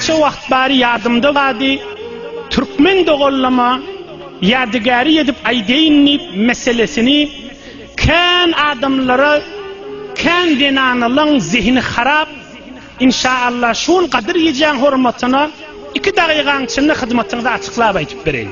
Şo wagt bary ýadymda gady, türkmen dogallama ýadygäri edip aýdaýyn diýip meselesini kän adamlara kän zenanalaň zehini harap inşaallah şol gadyr gijäň hormatyna iki dagygaň içinde hyzmatyňyzy açyklap aýdyp bereýin.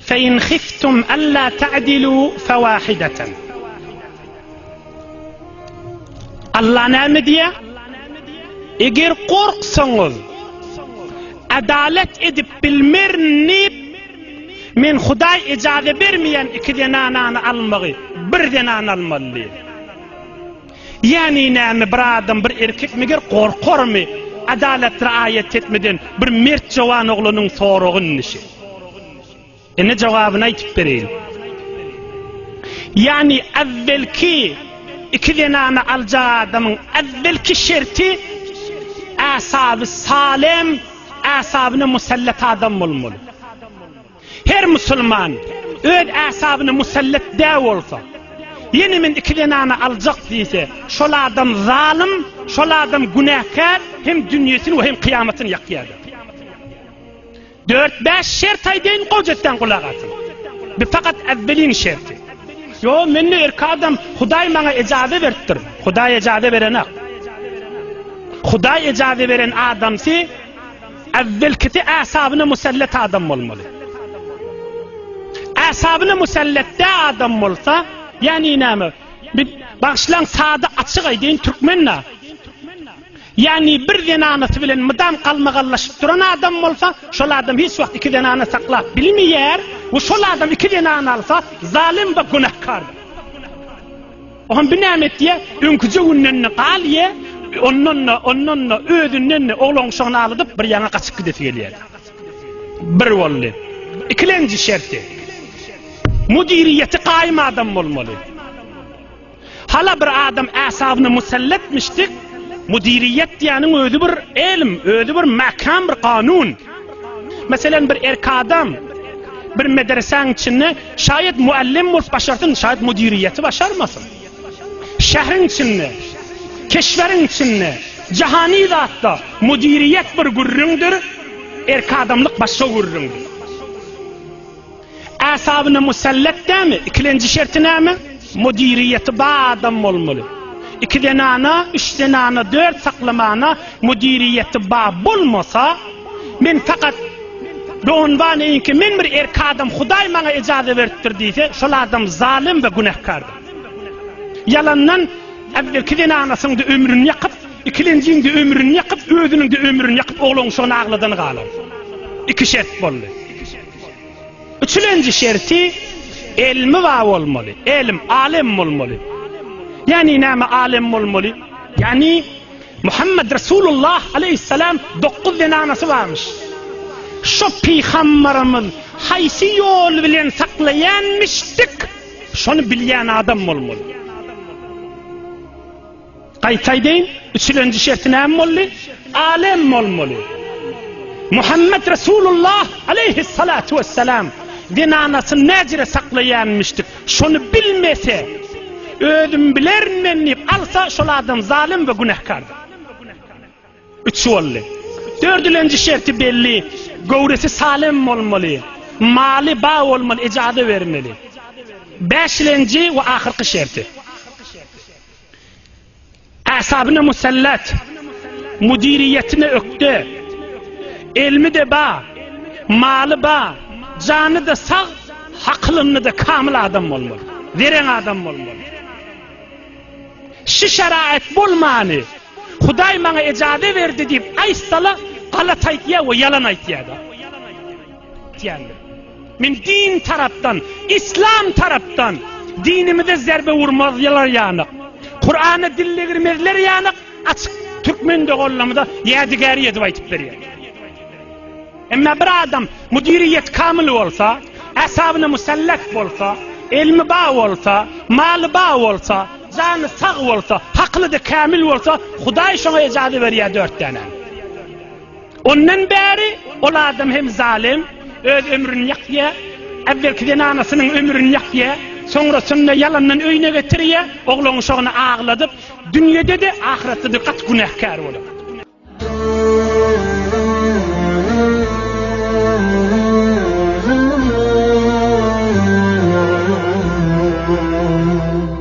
Fe in hiftum alla ta'dilu fe wahidatan. Alla näme diýýär? Eger gorksaňyz, adalet edip bilmerin diýip, men Hudaý ejaze bermeýän iki zenanany almagy, bir zenany almaly diýýär. Ýagny näme bir adam bir erkek meger gorkarmy adalat raýat etmeden bir mert jowan oglanyň soragy indi şe. Ine jogabyny aýtyp bereýin. Ýagny äwwelki iki zenany aljak adamyň äwwelki şerti äsaby salem äsabyna musallat adam bolmaly. Her musulman öz äsabyna musallat dä bolsa, ýene men iki zenany aljak diýse, şol adam zalym, şol adam günäkär, hem dünýesini we hem kyýamatyny ýakýardyr. Dört-bäş şert aýdaýyn, gojasydan gulak asyň. Bu fakat äwweliň şerti. Ýo, men-de erki adam, Hudaý maňa ejaze beripdir. Hudaý ejaze berenak. Hudaý ejaze beren adamsy, Äwwelkisi äsabyna musallat adam bolmaly. Äsabyna musallat dä adam bolsa, ýani näme? Bir bagşylaň sada açyk aýdyň türkmennä. Ýani bir zenanasy bilen mydam galmagallaşyp duran adam bolsa, şol adam hiç wagt iki zenana saklap bilmeýär, we şol adam iki zenana alsa, zalym we günäkar. Ohan bir näme etýä, öňküje günden-de galýä, ondan-da, ondan-da, özünden-de oglanuşagyny alydyp bir ýaňa gaçyp gidesi gelýärdi. Bir boldy. Ikilenji şerti. Müdiriýeti gaýym adam bolmaly. Hala bir adam äsabyny musallatmyşdyk, müdiriýet diýäniň özi bir elm, özi bir mäkäm bir kanun. Meselem bir erki adam bir medresäň içinde şaýat muallim bolup başarsyn, şaýat müdiriýeti başarmasyn. Şähriň içinde, keşweriň içinde, jahany zatda müdiriýet bir gürrüňdir, erki adamlyk başga gürrüňdir. Asabyna musallat dämi? Ikilenji şerti näme? Müdiriýeti bar adam bolmaly. Iki zenana, üç zenana, dört saklamana müdiriýeti bar bolmasa, men fakat Doganbaneýinki men bir erki adam Hudaý maňa ejaza beripdir diýse, şol adam zalym we günähkardyr. Ýalandan äwvelki zenanasynyň-da ömrüni ýakyp, ikilenjiň-de ömrüni ýakyp, özüniň-de ömrüni ýakyp oglanşygyny agladan galar. Iki şert boldy. Üçülenji şerti elmi bar bolmaly. Elim, alem bolmaly. Ýani näme alem bolmaly? Ýani Muhammed Resulullah aleyhisselam 9 zenanasy barmyş. Şu pygambarymyz haýsy ýol bilen saklaýanmyşdyk? Şony bilýän adam bolmaly. Gaýtaýdyn, üçlenji şerti näme boldy? Alem bolmaly. Muhammet Resulullah aleýhissalatu wessalam zenanasyny näjere saklaýanmyşdyk, şony bilmese, özüm bilerin men diýip alsa, şol adam zalym we günähkardyr. Üç boldy. Dördülenji şerti belli, göwresi salem bolmaly, maly ba bolmaly, ejaza bermeli. Bäşilenji we ahyrky şerti. Äsabyna musallat, müdiriýetine ökde, elmi-de ba, maly ba, jany-da sag, hakylynly-da kamyl adam bolmaly. Zerän adam bolmaly. Şu şaraýat bolmany, Hudaý maňa ejaze berdi diýip aýtsala, galat aýtýar we ýalan aýtýar-da. Diýendir. Men din tarapdan, islam tarapdan dinimize zerbe urmazlar ýanyk, Kurana dillegirmezler ýanyk açyk türkmen doganlarymyza ýädigäri edip aýtyp berýän. Emma bir adam müdiriyet kamyl bolsa, äsabyna musallat bolsa, elmi ba bolsa, maly ba bolsa, jany sag bolsa, hakly-da kamil bolsa, Hudaý şoňa ejazy berýär dört dänäni. Ondan bäri ol adam hem zalym, öz ömrüni ýakýar, äwvelki zenanasynyň ömrüni ýakýar, soňrasynda ýalandan öýüne getirýär, oglanuşagyny agladyp, dünýede-de, ahyretde-de gaty günäkär bolar.